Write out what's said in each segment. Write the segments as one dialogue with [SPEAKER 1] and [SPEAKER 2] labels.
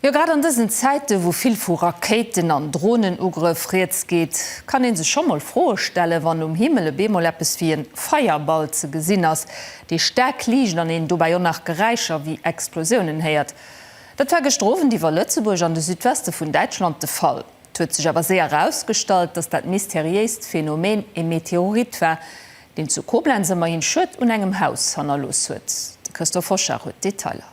[SPEAKER 1] Jo, grad an dësen Zäiten, wou vill vu Rakéiten an Dronenugrëff rieds geet, kann ee sech scho mol Froe stellen, wann um Himmel e beemol eppes wéi e Feierball ze gesinn ass, dee staark liicht an een dobäi och nach Geräischer wéi Explosiounen héiert. Dat war gëschter Owend iwwer Lëtzebuerg an de Südweste vun Däitschland de Fall. Et huet sech awer séier erausgestallt, dass dat mysteriéist Phänomen e Meteorit war, deen zu Koblenz ëmmerhin Schued un engem Haus hannerlooss huet. De Christophe Hochard huet d'Detailer.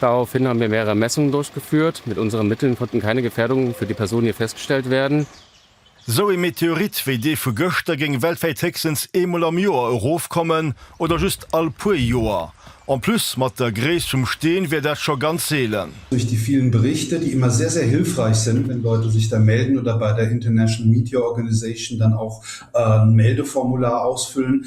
[SPEAKER 2] Daraufhin haben wir mehrere Messungen durchgeführt. Mit unseren Mitteln konnten keine Gefährdungen für die Person hier festgestellt werden. Esou ee
[SPEAKER 3] Meteorit wéi dee vu gëschter géing weltwäit héchstens eemol am Joer erofkommen oder just all puer Joer. En plus, mat der Gréisst vum Steen wär dat scho ganz seelen. Durch die vielen
[SPEAKER 4] Berichte, die immer sehr, sehr hilfreich sind, wenn Leute sich da melden oder bei der International Meteor Organization dann auch ein Meldeformular ausfüllen,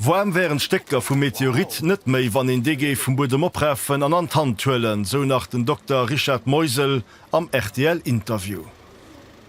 [SPEAKER 4] Woarm
[SPEAKER 3] wären d'Stécker vum Meteorit net méi, wann een dee géif vum Buedem oprafen an an d'Hand huelen, sou nach den Dokter Richard Meusel am RTL-Interview.